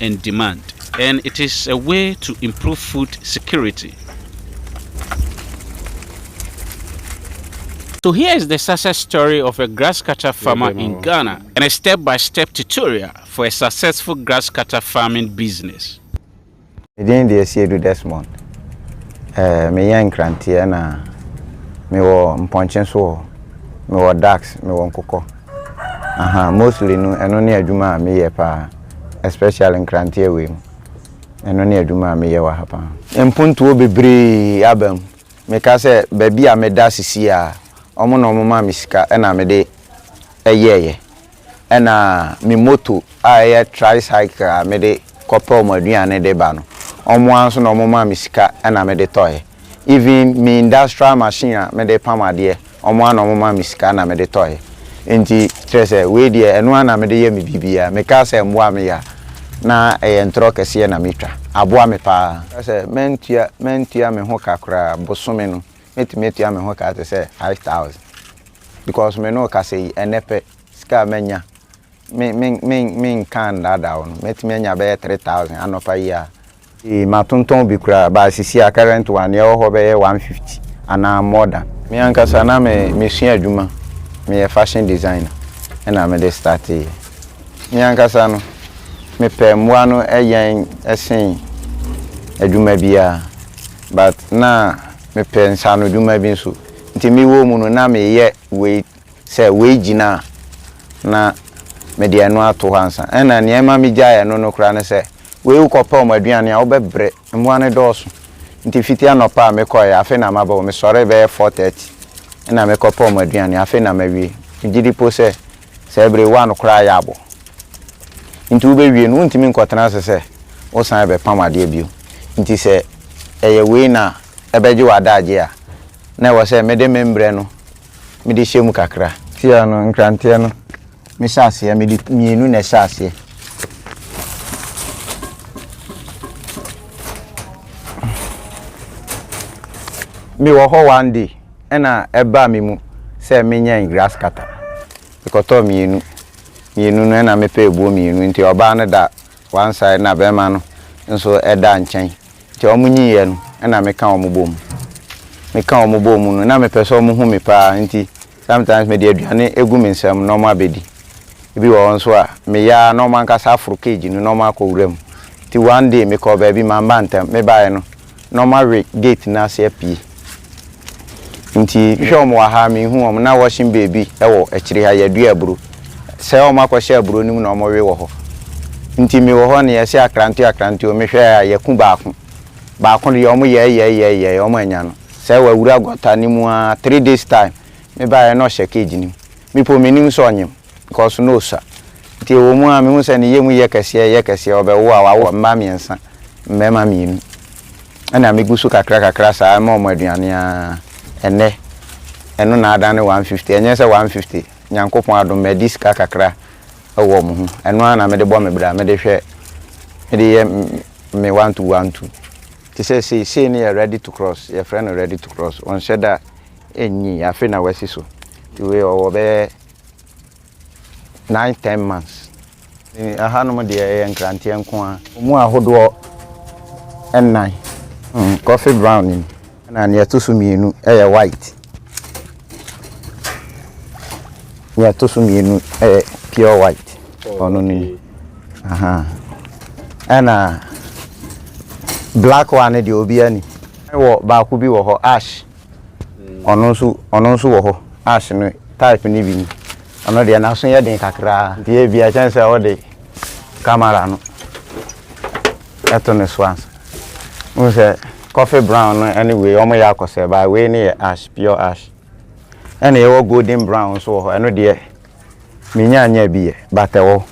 and demand and it is a way to improve food security. So here is the success story of a grass cutter farmer in Ghana and a step by step tutorial for a successful grass cutter farming business. Medin deɛ Siedu Desmond. Eh, meyɛ nkranteɛ na mewɔ mpɔnkye nso wɔ hɔ. Mewɔ ducks, mewɔ nkokɔ. Ahaa mostly no ɛno ne adwuma a meyɛ paa especially nkranteɛ wei mu ɛno ne adwuma a meyɛ wɔ ha paa. Mpontuo bebree aba mu. Meka sɛ baabi a meda sesie a wɔn na wɔn maa me sika na mede yɛɛyɛ ɛna me moto a ɛyɛ tricycle a mede kɔ pɛ wɔn aduane de ba no wɔn ara nso na wɔn maa me sika na mede tɔɛ. even me industrial machine a mede pam adeɛ wɔn ara na wɔn maa me sika na mede tɔeɛ nti kyerɛ sɛ wei deɛ ɛno ara na mede yɛ me biribiara mekaa sɛ mmoa me ya na ɛyɛ ntorɔ kɛseɛ na metwa aboa me pa ara sɛ mantua mantua me ho ka koraa bosome no mɛtumi atua me ho ka te sɛ five thousand because me ne wo kasa yi ɛnnɛ pɛ sika a manya. me, me, me, menka nnaadaa wo no, mɛtumi anya bɛyɛ three thousand anɔpa yi ara. Ee, matontɔn bi koraa, but sisi a current one, nea ɛwɔ hɔ bɛyɛ one fifty anaa more than. Me ankasa na me, mesua adwuma, meyɛ fashion designer, ɛna mede starteeɛ. Me ankasa no, mepɛ mmoa no yɛn sen adwuma biara, but na mepɛ nsaanodwuma bi nso, nti mewɔ mu no, na meyɛ wei sɛ wei gyina a, na mede ɛno ato hɔ ansa. Ɛnna nea ɛma migyaee ɛno no koraa ne sɛ, wei wokɔpɛ wɔn aduane a, wobɛbrɛ. Mmoa no dɔɔso. Enti fiti anɔpa a mekɔe, afei na maba hɔ. Mesɔree bɛyɛ four thirty na mekɔpɛ wɔn aduane, afei na mawie. Migye di mpo sɛ saa bere yi one koraa yɛ abɔ. Enti wubewie no, wuntumi nkɔtena ase sɛ wosan rebɛpam adeɛ bio. Enti sɛ ɛyɛ wei na ɛbɛgye w'adagye a, na ɛwɔ sɛ mede me mbrɛ no mede hyɛ mu kakra. Tiaa no, nkranteɛ no, me hyɛ aseɛ, mede mmienu na ɛhyɛ aseɛ. mewɔ hɔ one day ɛna ɛbaa me mu sɛ menyɛn grass cutter mekɔtɔɔ mmienu mmienu no ɛna mepɛ ebuo mmienu nti ɔbaa no da One side na bɛɛma no nso da nkyɛn nti ɔmo nyiiɛ no na me ka ɔmo bɔɔ mu. Me ka ɔmo bɔɔ mu no na me pɛ sɛ ɔmo hu me paa nti sometimes me de aduane gu me nsa mu na ɔmo abɛdi. Ebi wɔ hɔ nso a me yɛ ara na ɔmo ankasa aforo cage no na ɔmo akɔ wura mu. Nti one day me kɔɔ baabi mamma ntɛm, me baeɛ no. na wɔawe gate no ase apue. Nti mehwɛ wɔn wɔ ha a, menhu wɔn. Na wɔhyem baabi wɔ akyire ha, yɛadua aburo. Sɛ wɔakɔhyɛ aburo no mu na wɔwe wɔ hɔ. Nti mewɔ hɔ no, yɛse akrante akrante o, mehwɛɛ a, yɛaku baako. Baako deɛ, wɔyɛɛyɛɛyɛɛyɛɛ, wɔannya no. Sɛ wawura gutter no mu ara, three days time, mebaeɛ na ɔhyɛ cage no mu. Me mpo mennim sɛ ɔnyem. Kɔ so na osua. Nti ɛwɔ mu ara mehu sɛ ne yam reyɛ kɛseɛ reyɛ kɛseɛ, ɔbɛwo a wawo mma mmiɛnsa, mmarima mmienu. Ɛna megu so kakra kakra saa ma wɔn aduane ara, ɛnnɛ ɛno na adane 150, ɛnyɛ sɛ 150, Nyankopɔn adom madi sika kakra wɔ wɔn ho, ɛno ara na mede bɔ me bra, mede hwɛ, mede yɛ me one two one two. Te sɛ sei, sei no yɛ ready to cross, yɛfrɛ no ready to cross, ɔnhyɛ da nnyii, afei na wasi so, nti wei ɔwɔ bɛyɛ nine ten months. Ɛhanom deɛ ɛyɛ nkranteɛ nko ara. Emu ahodoɔ nnan. Mm, coffee brown ni. Ɛna nea ɛto so mmienu ɛyɛ white. Nea ɛto so mmienu ɛyɛ pure white. Ɔno ni. Aha. Ɛna black one deɛ obiara ni. Ɛwɔ baako bi wɔ hɔ ash. Ɔno nso, ɔno nso wɔ hɔ a se no type no bi ni. Ɔno deɛ n'aso yɛ den kakra nti ebia ɛkyɛn sɛ wode camera no to ne so ansa. Wohu sɛ coffee brown no ne wei wɔyɛ akɔsɛ but wei ne yɛ ash, pure ash. Ɛna yɛwɔ golden brown nso wɔ hɔ, ɛno deɛ mennya nnya bi yɛ but ɛwɔ hɔ.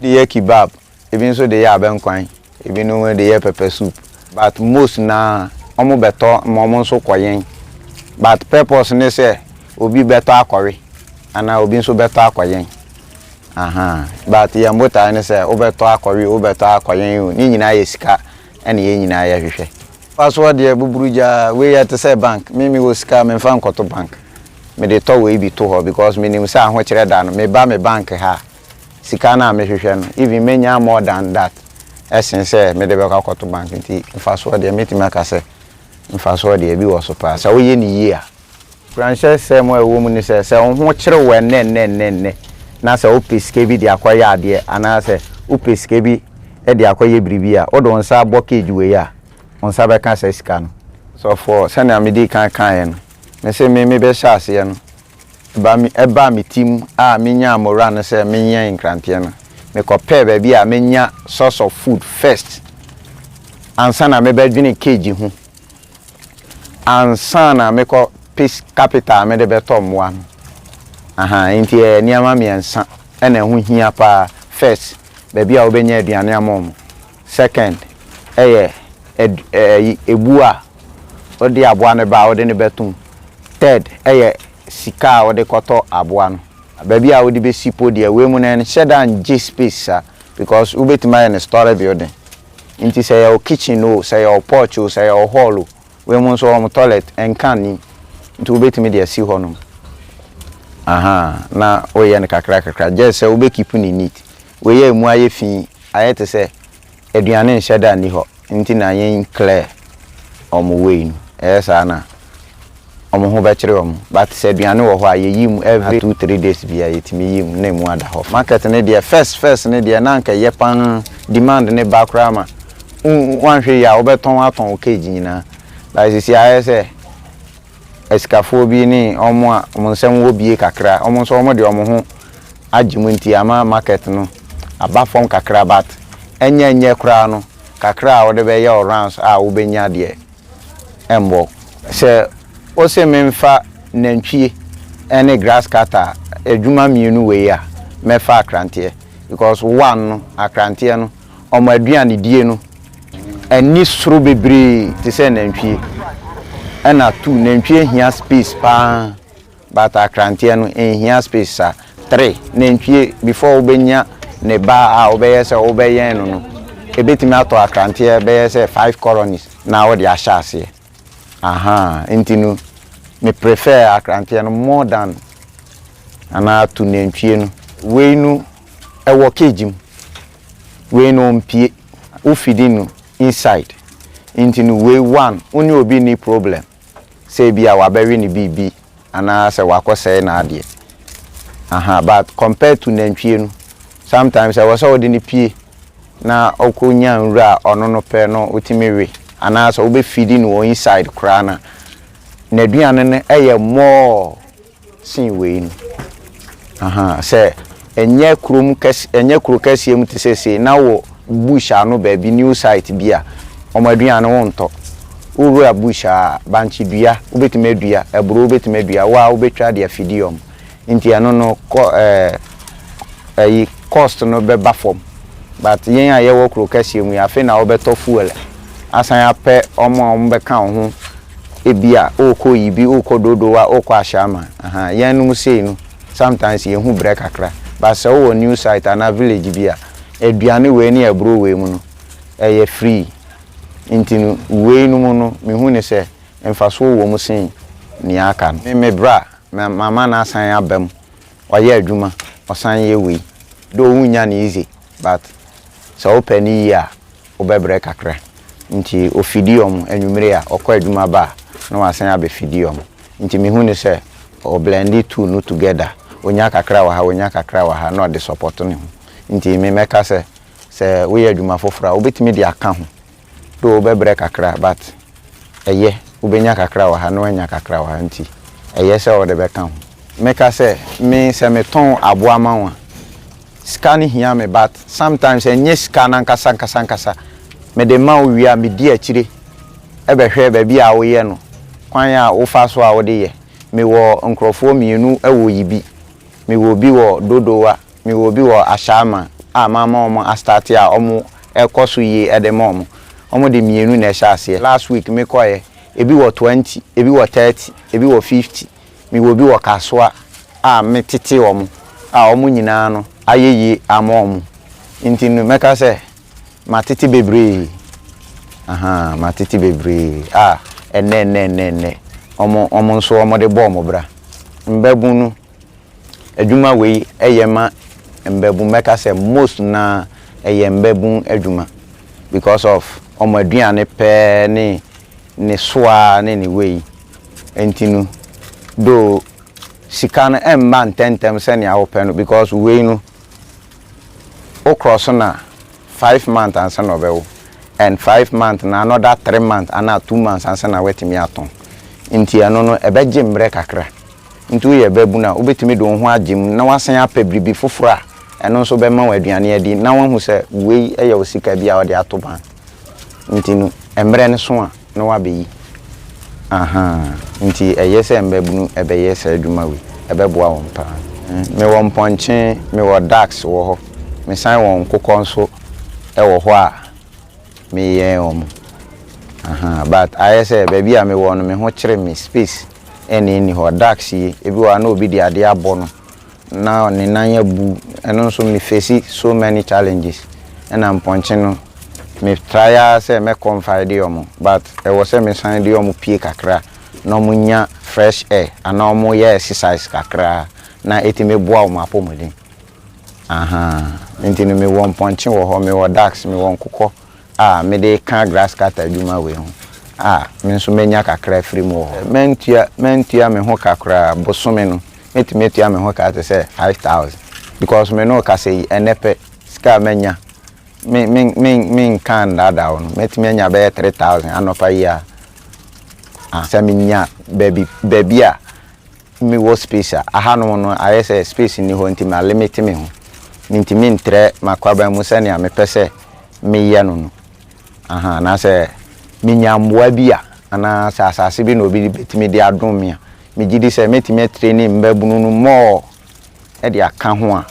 Wode yɛ kebab ebi nso de yɛ abɛnkwan, ebi nom de yɛ pepper soup but most no ara wɔn bɛ tɔ ma wɔn nso kɔ yɛn but purpose ne sɛ obi bɛ tɔ akɔ we anaa obi nso bɛ tɔ akɔ yɛn ahaa but yɛn botae ne sɛ wo bɛ tɔ akɔ we wo bɛ tɔ akɔ yɛn o ne nyinaa yɛ sika ɛna yɛn nyinaa yɛ hwehwɛ. Fa soɔ deɛ buburu gya wei yɛ te sɛ bank me me wɔ sika me nfa nkɔto bank me de tɔ wei bi to hɔ because me nim sɛ ahokyerɛ da no me ba me bank ha a sika no a mehwehwɛ no, even mɛnya more than that sen sɛ mede bɛkɔ akɔto bank. Nti mfasoɔ deɛ, mɛtumi aka sɛ mfasoɔ deɛ ebi wɔ so paa, sɛ woyɛ no yie a. Kuranhyɛsɛm a ɛwɔ mu ne sɛ, sɛ wo ho kyere wo ɛnnɛnnɛnnɛ, na sɛ wopɛ sika bi de akɔyɛ adeɛ, anaasɛ wopɛ sika bi de akɔyɛ biribi a, wode wo nsa abɔ cage wei a, wo nsa bɛka saa sika no. Ɔsɔfoɔ, sɛdeɛ medii kan kaeɛ no, mese me mebɛhyɛ aseɛ no, Ba me ɛbaa me tim a me nyaa moraa no sɛ me nyɛn nkranteɛ no me kɔ pɛɛ baabi a me nya source of food first ansa na me bɛ dwene cage ho ansa na me kɔ pe capital a me de bɛ tɔ mmoa no ahaa enti ɛyɛ nneɛma mmiɛnsa ɛna ɛho hia paa first baabi a wo bɛ nya aduane ama ɔmo Second, ɛyɛ ɛd ɛyi ɛbuo a wode aboa no ba a wode no bɛto mu. Third, ɛyɛ sika a wode kɔtɔ aboa no. Baabi a wode bɛsi mpo deɛ wei mu no ɛnhyɛ da ngye space saa because wobɛtumi ayɛ no story building. Nti sɛ ɛyɛ wo kitchen o, sɛ ɛyɛ wo porch o, sɛ ɛyɛ wo hall o, wei mu nso wɔn toilet nka nnim nti wobɛtumi de asi hɔ nom. Ahaa na woyɛ no kakra kakra just sɛ wobɛ keep no neat. Wei a ɛmu ayɛ fi yi ayɛ te sɛ aduane nhyɛ da nni hɔ nti na yɛnclear wɔn way no. Ɛyɛ saa na wɔn ho bɛkyere wɔn but sɛ aduane wɔ hɔ a yɛyi mu every two three days biara yɛtumi yi mu na ɛmu ada hɔ. Market no deɛ first first no deɛ na anka ɛyɛ pa ara, demand no ba koraa ma woanhwɛ yie a wobɛtɔn atɔn wo cage nyinaa but seesei ayɛ sɛ asikafoɔ bi ne wɔn a wɔn nsam wɔ bie kakra, wɔn nso wɔde wɔn ho agye mu nti ama market no aba fam kakra but ɛnyɛ nyɛ koraa no kakra a wode bɛyɛ wo rounds a wobɛnya deɛ ɛmmɔ wo. Sɛ wose memfa nantwie ne grass cutter a, adwuma mmienu wei a mɛfa akranteɛ because one no akranteɛ no Wɔn aduanedie no ani soro bebree te sɛ nantwie. Ɛna two, nantwie hia space pa ara but akranteɛ no nhia space saa. Three, nantwie before wobɛnya ne ba a wobɛyɛ sɛ wobɛyɛn no no, ɛbɛtumi atɔ akranteɛ bɛyɛ sɛ five colonies na wode ahyɛ aseɛ. Ahaa nti no me prefer akranteɛ no more than anaa to nantwie no. Wei no ɛwɔ cage mu wei no ɔmpie wo feeding no inside nti no wei one wo ne obi nni problem sɛ ebia wabɛwe no biribi anaa sɛ wakɔ sɛe n'adeɛ ahaa but compared to nantwie no sometimes ɛwɔ sɛ wode no pie na ɔkɔ nya nwura a ɔno no pɛ no wotumi we anaa sɛ wobɛ feedi no wɔ inside koraa no a n'aduane no yɛ more sen wei no. Ahaa sɛ ɛnyɛ kurom kɛs ɛnyɛ kuro kɛseɛ mu te sɛ sei na wɔ bush ano baabi new site bi a wɔn aduane wo ntɔ wo wura bush a bankye dua wo bɛtumi adua aburo wo bɛtumi adua wo ara wo bɛtwa de afidi wɔn nti ɛno no kɔ ɛɛ ayi cost no bɛba fam but yɛn a yɛwɔ kuro kɛseɛ mu yi afei na wobɛtɔ fuel asan apɛ wɔn a wɔbɛka wo ho ebi a wokɔ yibi wokɔ dodowa wokɔ ahyɛama ahaa yɛn nom sei no sometimes yɛhu brɛ kakra but sɛ wowɔ new site anaa village bi a aduane wei ne aburo wei mu no ɛyɛ free nti no wei nom no mehu ne sɛ mfasoɔ wɔ mu sen nea aka no me bra mama no asan aba mu. Ɔyɛ adwuma ɔsan yɛ wei though wonnya no easy but sɛ wopɛ no yie a wobɛbrɛ kakra nti ɔfidi wɔn anwummere a ɔkɔ adwuma ba a na wasan abɛfidi wɔn nti mehu no sɛ ɔ blende two no together ɔnya kakra wɔ ha ɔnya kakra wɔ ha na ɔde support ne ho nti me mɛka sɛ sɛ woyɛ adwuma foforɔ a wobɛtumi de aka ho though wo bɛbrɛ kakra but ɛyɛ wo bɛnya kakra wɔ ha na w'anya kakra wɔ ha nti ɛyɛ sɛ wode bɛka ho. Me ka sɛ me sɛ me tɔn aboa ma wo a sika no hia me but sometimes ɛnyɛ sika no ankasa ankasa ankasa mede ma wo wie a me di akyire bɛhwɛ baabi a wo yɛ no kwan a wo fa so a wode yɛ me wɔ nkorɔfoɔ mmienu wɔ yibi me wɔ bi wɔ dodowa Me wɔ bi wɔ Ashaiman a mama wɔn a starte a wɔn ɛkɔ so yie ɛde ma wɔn. Wɔn de mmienu na ɛhyɛ aseɛ. Last week me kɔɛ ebi wɔ twenty, ebi wɔ thirty, ebi wɔ fifty. Me wɔ bi wɔ Kasoa a me tete wɔn a wɔn nyinaa no ayɛ yie ama wɔn. Nti no mɛka sɛ matete bebree ahaa matete bebree a ɛnnɛ ɛnnɛ ɛnnɛ ɛnnɛ wɔn wɔn nso wɔn de bɔ wɔn bra. Mbabunu. Adwuma wei yɛ ma mbabun mɛka sɛ most no ara ɛyɛ mbabun adwuma because of wɔn aduane pɛ ne ne soa ne ne wei nti no though sika no mma ntɛntɛm sɛnea wopɛ no because wei no wo krɔ so na five month ansa na ɔbɛwo and five month na another three month anaa two months ansa na woatumi atɔn nti ɛno no ɛbɛgye mmerɛ kakra nti woyɛ babunu a wobɛtumi de wo ho agye mu na woasan apɛ biribi foforɔ a ɛno nso bɛma wo aduane adi na woahu sɛ wei yɛ wo sika bi a wode ato bank nti no mmerɛ no so a No w'abɛyi ahaa nti ɛyɛ sɛ mbabunu ɛbɛyɛ saa adwuma wei ɛbɛboa wɔn paa me wɔ mpɔnkye me wɔ ducks wɔ hɔ me san wɔ nkokɔ nso ɛwɔ hɔ a me yɛ wɔn ahaa but ayɛ sɛ baabi a me wɔ no me ho kyere me space ɛna ɛni hɔ ducks yi ebi wɔ hɔ a na obi de adeɛ abɔ no. na ne nan abu ɛno nso me face so many challenges ɛna mpɔnkye no me try ara sɛ mɛ confide wɔn but ɛwɔ sɛ me san de wɔn pie kakra na wɔn nya fresh air anaa wɔn yɛ exercise kakra na ɛtumi boa wɔn apɔmuden ahaa nti no me wɔ mpɔnkye wɔ hɔ me wɔ ducks me wɔ nkokɔ a me de ka grass cutter adwuma wei ho a me nso mɛ nya kakra afiri mu wɔ hɔ mɛ ntua mɛ ntua me ho ka koraa bosome no mɛtumi atua me ho ka te sɛ five thousand because me ne wo kasa yi ɛnnɛ pɛ sika a manya me me me me nka ndaadaa wo no mɛtumi anya bɛyɛ three thousand anɔpa yi a ah sɛ menya baabi baabi a mewɔ space a ahanom no ayɛ sɛ space nni hɔ nti ma limit me ho mentumi ntrɛ m'akwaban mu sɛnea mepɛ sɛ meyɛ no no aha anaasɛ menya mmoa bi a anaa sɛ asase bi na obi bɛtumi de adom me a megye di sɛ mɛtumi atraini mmaabunu no more de aka ho a,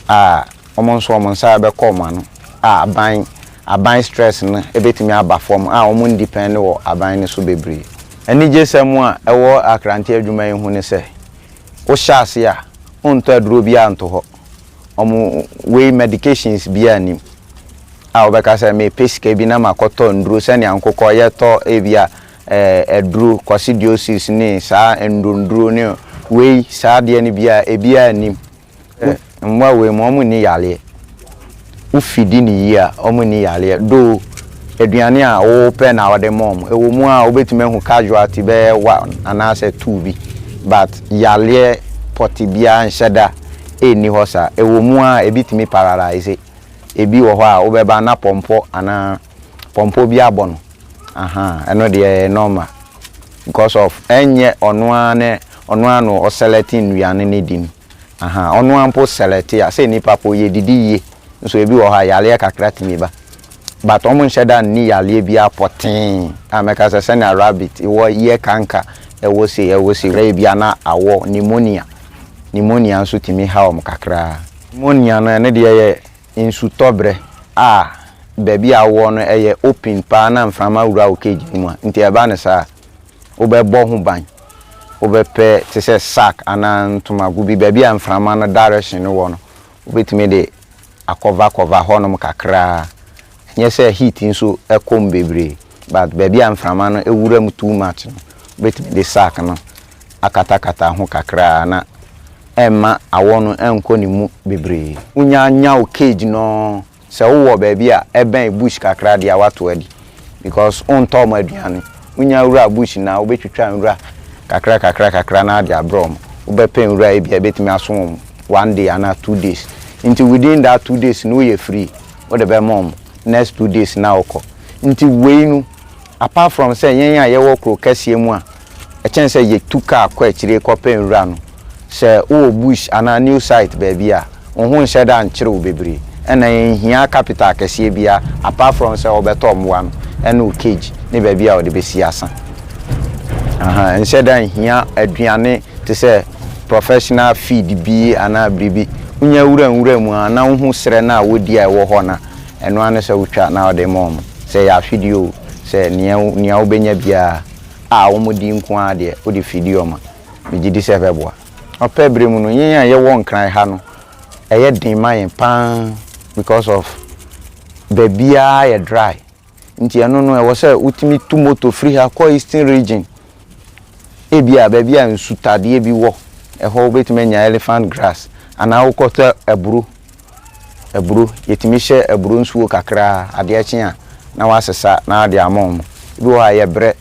a wɔn nso wɔn nsa bɛkɔ wɔn ano a aban aban stress no bɛtumi aba fam a wɔn ndepɛnde wɔ aban no so bebree. Anigyesɛm a ɛwɔ Akrante adwuma yi ho ne sɛ, wohyɛ ase a, wontɔ aduro biara nto hɔ. Wɔn wei medications biara nnim a wobɛka sɛ mepɛ sika bi na makɔtɔ nnuro sɛnea nkokɔ yɛtɔ ebia aduro, coccidiosis ne saa nnuronduro ne wei saa adeɛ no biara ebiara nnim. Mmoa wei mu wɔn nni yareɛ. Wo fidi no yie a wɔn nni yareɛ though aduane a wo pɛ na wɔde ma wɔn. Ɛwɔ mu a wobɛtumi ahu casualty bɛyɛ one anaasɛ two bi but yareɛ pɔte biara nhyɛ da nni hɔ saa. Ɛwɔ mu a ebi tumi paralyse, ebi wɔ hɔ a wobɛba na pɔmpɔ anaa. Pɔmpɔ bi abɔ no ahaa ɛno deɛ ɛyɛ normal because of ɛnyɛ ɔno ara ne ɔno ara na ɔselɛte nnuane no di no ahaa ɔno ara mpo selɛte a sɛ nipa po yɛdidi yie nso ebi wɔ hɔ a yareɛ kakra tumi ba but wɔn nhyɛ da nni yareɛ biara pɔtee a mɛka sɛ sɛnea rabbit wɔ yɛ kanka ɛwɔ sei ɛwɔ sei na ebi ana awɔ pneumonia pneumonia nso tumi ha wɔn kakra. Pneumonia no ɛno deɛ yɛ nsutɔberɛ a baabi a wowɔ no yɛ open paa na mframa wura wo cage no mu a, nti ɛba no saa a, wobɛbɔ ho ban. Wobɛpɛ te sɛ sack anaa ntomago bi, baabi a mframa no direction no wɔ no, wobɛtumi de akɔva kɔva hɔnom kakra ara. Ɛnyɛ sɛ heat nso kɔ mu bebree. but baabi a mframa no wura mu too much no, wobɛtumi de sack no akatakata ho kakra a na ɛmma awɔ no nkɔ ne mu bebree. Wonya nya wo cage no, sɛ wowɔ baabi a ɛbɛn bush kakra deɛ a woato adi because wontɔ wɔn aduane. Wonya wura bush no a, wobɛtwitwa nwura kakra kakra kakra na wode abrɛ wɔn. Wobɛpɛ nwura a ebia ɛbɛtumi aso wɔn one day anaa two days nti within that two days no woyɛ free, wode bɛma wɔn, next two days na wokɔ. Nti wei no apart from sɛ yɛn a yɛwɔ kuro kɛseɛ mu a ɛkyɛn sɛ yɛtu car kɔ akyire kɔpɛ nwura no, sɛ wowɔ bush anaa new site baabi a, wo ho nhyɛ da nkyere wo bebree. Ɛnna ɛnhia capital kɛseɛ biara apart from sɛ wobɛtɔ mmoa no ne wo cage ne baabi a wode bɛsi asa. Aha, ɛnhyɛ da nhia aduane te sɛ professional feed bi anaa biribi. Wonya wura nwura mu a na wohu serɛ no a wɔdi a ɛwɔ hɔ no a, Ɛno ara ne sɛ wotwa na wode ma wɔn. Sɛ ɛyɛ afideɛ o, sɛ nea nea wobɛnya biara a wɔn di nko ara deɛ, wode fidie wɔn a, megye di sɛ ɛbɛboa. Ɔpɛ berɛ mu no, yɛn a yɛwɔ Nkran ha no, ɛyɛ den ma yɛn pa ara because of baabiara yɛ dry. Nti ɛno no, ɛwɔ sɛ wotumi tu moto firi ha kɔ Eastern Region, ebia baabi a nsutadeɛ bi wɔ, ɛhɔ wobɛtumi anya elephant grass anaa wokɔtɔ aburo. aburo. Yɛtumi hyɛ aburo nsuo kakra a, adeɛ kye a na wɔasesa na wɔde ama wɔn. Ebi wɔ hɔ a, ɛyɛ berɛ.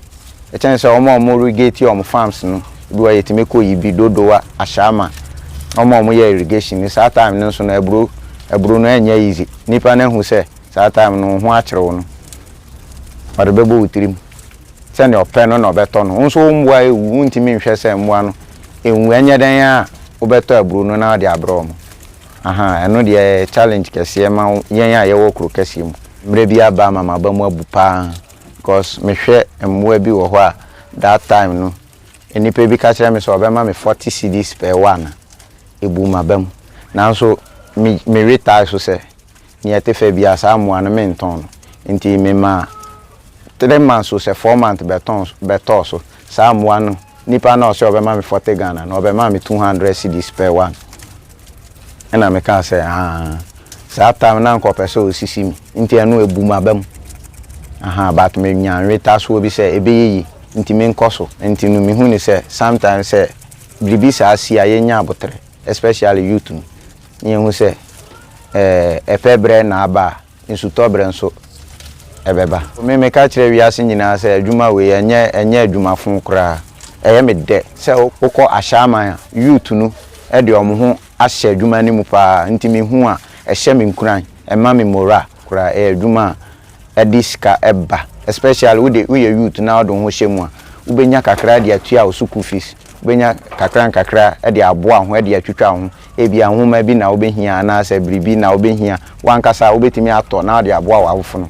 Ɛkyɛn sɛ wɔn a wɔn irrigate wɔn farms no, ebi wɔ hɔ a yɛtumi kɔ yi bi, Dodowa, Ashama, wɔn a wɔyɛ irrigation no, saa time no nso no aburo, aburo no ɛnyɛ easy. Nnipa no ahu sɛ saa time no wo ho akyere wo no, ɔde bɛbɔ wo tirim. Sɛdeɛ ɔpɛ no na ɔbɛtɔ no. Wo nso wo mmoa ɛwu, wontumi nhwɛ sɛ mmoa no ɛnwu. Ɛnyɛ dɛn ara a, wobɛtɔ aburo no na wode abrɛ wɔn. Ahaa ɛno deɛ ɛyɛ challenge kɛseɛ ma yɛn a yɛwɔ kuro kɛseɛ mu. Mmerɛ bi aba ama m'aba mu abu pa ara because mehwɛ mmoa bi wɔ hɔ a that time no nnipa bi ka kyerɛ me sɛ ɔbɛma me forty cedis per one a ɛbuu m'aba mu nanso me retire so sɛ Nea ɛte fɛ biara, saa mmoa no, mentɔn no. Enti memaa three months o sɛ four months bɛtɔn so, bɛtɔɔ so. Saa mmoa no, nipa no a ɔse ɔbɛma me forty Ghana no, ɔbɛmaa me two hundred cedis per one. Ɛna mekaa sɛ, Ahaa, saa time no na anka ɔpɛ sɛ ɔsisi me, enti ɛno ɛbu m'aba mu. Ahaa, but menya nwetasoɔ bi sɛ ɛbɛyɛ yie, enti menkɔ so. Enti no, mehunii sɛ sometimes sɛ biribi saa si a, yɛnnya aboterɛ. especially youth no na yɛhu sɛ eh ɛpɛ berɛ na aba a, nsutɔ berɛ nso ɛbɛba. Me meka kyerɛ wiase nyinaa sɛ adwuma wei ɛnyɛ ɛnyɛ adwuma fo koraa, ɛyɛ me dɛ. Sɛ wokɔ ahyɛaman a, youth no de wɔn ho ahyɛ adwuma no mu paa nti mehu a ɛhyɛ me nkuran, ɛma me morale. koraa ɛyɛ adwuma a ɛde sika ba especially wode woyɛ youth na wode wo ho hyɛ mu a wobɛnya kakra de atua wo sukuu fees wobɛnya kakra nkakra de aboa wo ho de atwitwa wo ho ebia nwoma bi na wobɛhia anaasɛ biribi na wobɛhia wo ankasa a wobɛtumi atɔ na wode aboa w'awofono.